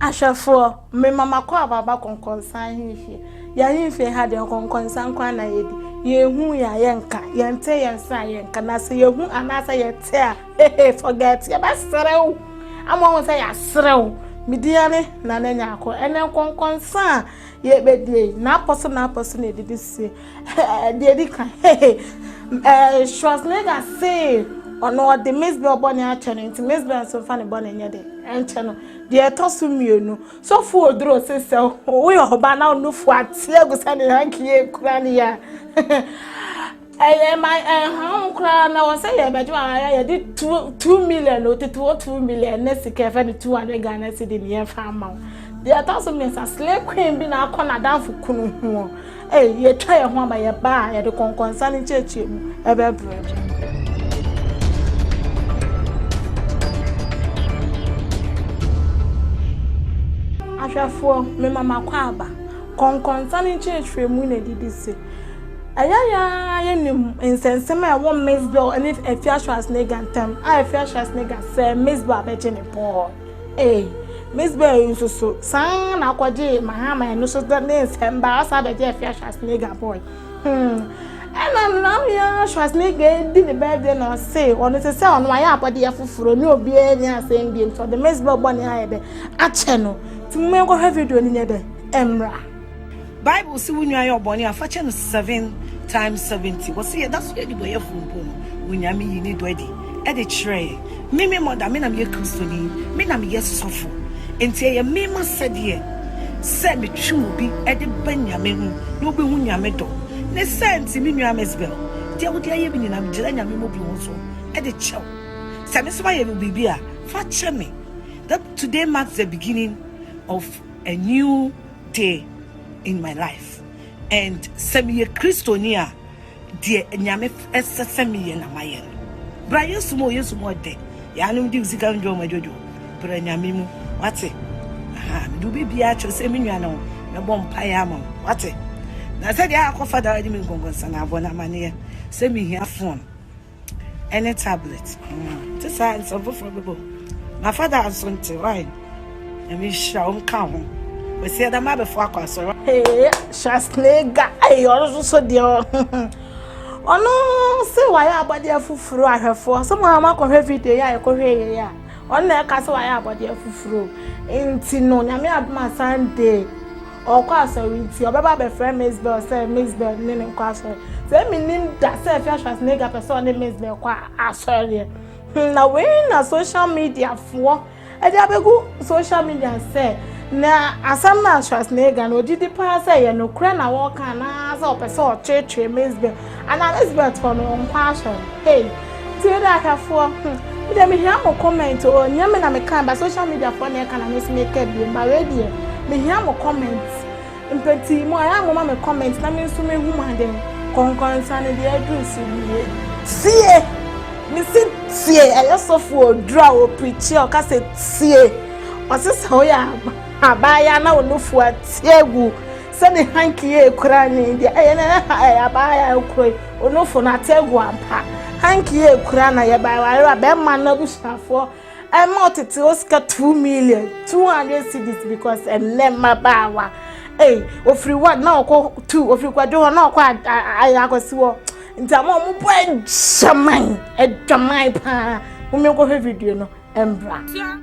Ahwɛfoɔ, mema m'akwaaba aba kɔnkɔnsa ahemfie. Yɛn ahemfie ha deɛ nkɔnkɔnsa nko ara na yɛdi. Yɛhu yɛn a, yɛnka. Yɛnte yɛn se a, yɛnka. Na sɛ yɛhu anaasɛ yɛte a, hehe forget yɛbɛsrɛ wo ama wɔn sɛ yɛasrɛ wo media ne nana nyaako ɛnɛ nkɔnkɔnsa a yɛbɛdie yi n'apɔ so n'apɔ so na ɛdidi sie deɛ di kan hehe ɛɛ Schwarzenegger see ɔno ɔde Miss Bell bɔ ne akyɛ no nti Miss Bell nso nfa ne bɔ ne nyɛ de ɛnkyɛ no deɛ ɛtɔ so mmienu sɔfo oduro se sɛ woyɛ ɔba na ɔnofo ateɛ gu sɛ ne hankie kura ne yɛ a Ɛyɛ ma ɛnhaw koraa na wɔn sɛ yɛbɛgye wɔn ara yɛde two two million o tete wɔ two million ne sika ɛfɛ no two hundred Ghana cedi ne yɛn fa ama wɔn. Deɛ ɛtɔ so mmiɛnsa slay queen bi na akɔ n'adanfo kunu ho. Ɛy yɛtwa yɛn ho aba yɛba a yɛde kɔnkɔnsa ne nkyɛkyɛ mu ɛbɛbrɛ. Ahwɛfoɔ, mema makwaaba. Kɔnkɔnsa ne nkyerɛkyerɛmu na ɛdidi se. Ɛyɛ yɛn ara yenim nsɛnsɛm a ɛwɔ Mizboa ne Afia Schwarzenegger ntam a Afia Schwarzenegger sɛee Mizboa bɛgye ne pon hɔ. Ei, Mizboa yi nso so san na akɔgyee Mahama ɛno so de ne nsɛm baa ɔsan bɛgye Afia Schwarzenegger boy. Hmm. Ɛna nam yɛ Schwarzenegger di ne birthday na ɔse ɔno sɛ sɛ ɔno ayɛ abɔdeɛ foforo ne obiara ni asɛm biem sɛ ɔde Mizboa bɔne ayɛ dɛ akyɛ no. Ti mo yɛnkɔhwɛ video no nyɛ dɛ ɛmmra. Bible se wo nua yɛ ɔbɔne a, fa kyɛ no seven times seventy. Wɔse yɛda so yɛ adebɔyɛfoɔ mpo no, Onyame yii ne dɔ adi de kyerɛɛ yɛn. Me, me mother, me na meyɛ Kristoni, me na meyɛ sɔfo, enti ɛyɛ me m'asɛdeɛ sɛ metwe obi de ba Nyame ho na ɔbɛhu Nyame dɔ. Ne saa nti, me nua Msbel, deɛ wode ayɛ me nyinaa, megyina Nyame mmɔborɔhunu so de kyɛ wo. Sɛ me nso mayɛ no biribi a, fa kyɛ me. That today marks the beginning of a new. day in my life and sɛ meyɛ kristoni a deɛ nyame ɛsɛ sɛ meyɛ na mayɛ no bra yesu mu yesu mu ɔdɛ yɛanom di sika ndwo ɔma dwodwo bra nyame mu wate aha mede wobɛbia akyerɛ sɛ me nua no mɛbɔ mpaeɛ ama wo wate na sɛdeɛ akɔfa da wagye me nkɔnkɔnsa na abɔ no amanneɛ sɛ mehia phone ɛne tablet te saa nsɛm foforɔ bɛbɔ na fada nso nte wae nyame nhyira wo nka ho wɔsi ɛda ma abɛfo akɔ asɔre ee shasnega ee ɔno nso so deɛ ɔno sɛ wayɛ abɔdeɛ foforɔ ahwɛfoɔ sɛ mo a moakɔhwɛ video yɛ a yɛkɔhwɛ yɛyɛ a ɔno na ɛka sɛ wayɛ abɔdeɛ foforɔ nti no nyame adoma sunday Ɔrekɔ asɔre nti ɔbɛba abɛfrɛ Miss Bell sɛ Miss Bell ne no nkɔ asɔre. Sɛ mennim da sɛ Fia Schwarzenegger pɛ sɛ ɔne Miss Bell kɔ asɔre deɛ. Hmm, na wei na social media foɔ ɛde abɛgu social media sɛ na asɛm no a Schwarzenegger no ɔgye di paa sɛ ɛyɛ nokorɛ na wɔreka anaasɛ ɔpɛ sɛ ɔtweetwee Miss Bell. Ana Elizabeth hɔ no ɔnkɔ asɔr no hey tsie dɛ ahwɛfoɔ hmm me deɛ mehia mo comment o nyɛ me na meka ba social media foɔ na ɛka na mesi meka biem ba wei deɛ mehia mo comment mpɛtii mu ayɛ a moma me comment na me nso mehu mo aden kɔnkɔnsa no deɛ aduru so wie tsie mesi tsie ɛyɛ sɔfoɔ oduru a ɔpirikyie ɔka sɛ tsie ɔse sɛ woyɛ abaayewa na wo nufoɔ atie gu Sɛ ne hanky yɛ ekura ne deɛ ɛyɛ na ɛyɛ ha ɛyɛ abaa yɛ ekuro yi onofo na ate egu ampa hanky yɛ ekura na yɛ baa wayere a bɛrima no abusuafoɔ ɛma ɔtete o sika two million two hundred cedis because ɛnɛ mmabaawa ɛy ofiri wa na ɔkɔ tu ofiri kwadwo hɔ na ɔkɔ ayɛ akɔsi hɔ nti ama ɔmo bɔ adwaman adwaman paa mo mi nkɔhwɛ video no ɛmbra.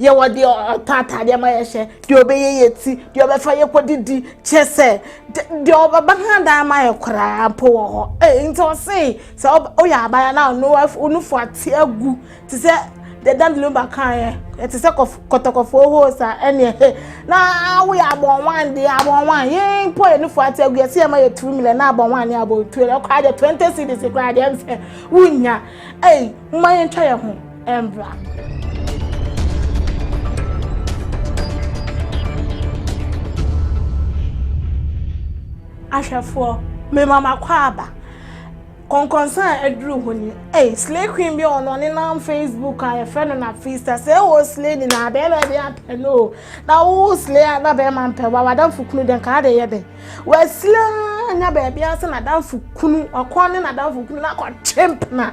Yɛwɔ deɛ ɔtɔ ataadeɛ ma yɛhyɛ, deɛ ɔbɛyɛ yɛ ti, deɛ ɔbɛfa yɛkɔdidi, kyɛ sɛ deɛ ɔbɛba ha dan ma yɛ koraa mpo wɔ hɔ. Ee, nti ɔse sɛ woyɛ abaya na onufo ate agu te sɛ deɛ Dan Lumba kaeɛ, ɛte sɛ kɔtɔkɔfoɔ hose a, ɛneɛ he, na woyɛ abɔnwan deɛ, abɔnwan, yɛn mpo yɛ nufo ate agu, yɛse yɛma yɛ three million na abɔnwan ne abɔntuo, na koraa deɛ twenty cedis koraa deɛ ɛnsɛ wonnya. Ei, momma yɛntwa yɛ ho. Mbra. Ahwɛfoɔ, mema m'akwaaba. Kɔnkɔnsa a aduru hɔ ni. Ei, slay queen bi ɔno ɔne nam Facebook a yɛfrɛ no na fista. Sɛ ɛwɔ slay ni na bɛrima bi apɛ no o. Na wo slay a na bɛrima mpɛ wa wadamfo kunu dɛn kaa de yɛ dɛn. Wasilaa nya baabi ase na damfo kunu wakɔ ne na damfo kunu na kɔtwe mpena.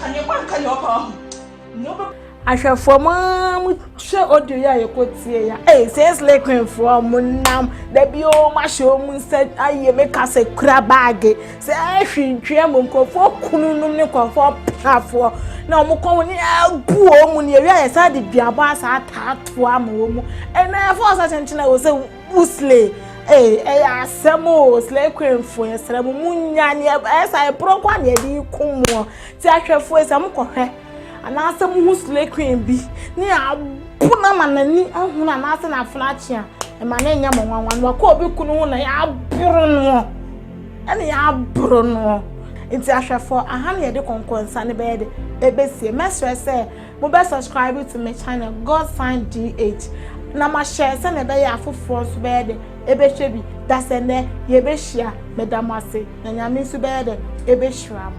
Ka nea ɔkɔ nka nea ɔpɛ ahu. Nea ɔbɛ. Ahwɛfoɔ mo ara mo hwɛ audio yi a yɛkɔ tie ya. Ee sɛ slay queen foɔ mo nam dabi o mo ahyɛ o mo nsa ayɛ me ka sɛ kura baage sɛ ɛhwi ntwea mu nkurɔfoɔ kunu nom ne nkurɔfoɔ pafoɔ na wɔn kɔn wɔn abu wɔn mu ne ewia yɛ saa de duabɔ asa ataatoa ma wɔn mu ɛnna ɛfɔ ɔsɛ kyenkyen a wɔsɛ Wo slay ee ɛyɛ asɛm o slay queen fo yɛsrɛ mo mo nya ne ɛyɛ saa ɛporɔ nko a na yɛde ko moɔ ti ahwɛfoɔ sɛ mo kɔhwɛ anaasɛ mo ho slay queen bi ne abo na ma n'ani ahunu anaasɛ n'afena akye a ɛma ne nyɛ mo nwanwa no wakɔ obi kunu ho na yɛaboro noɔ ɛna yɛaboro noɔ nti ahwɛfoɔ aha na yɛde kɔnkɔnsa no bɛyɛ de ɛbɛsie mɛsrɛ sɛ Mo bɛ subscribe to me channel God sign DH na ma hyɛ sɛ na ɛbɛyɛ afoforɔ nso bɛyɛ dɛ ɛbɛhwɛ bi da sɛ nɛ yɛbɛhyia meda mo ase na nyame nso bɛyɛ dɛ ɛbɛhyira mo.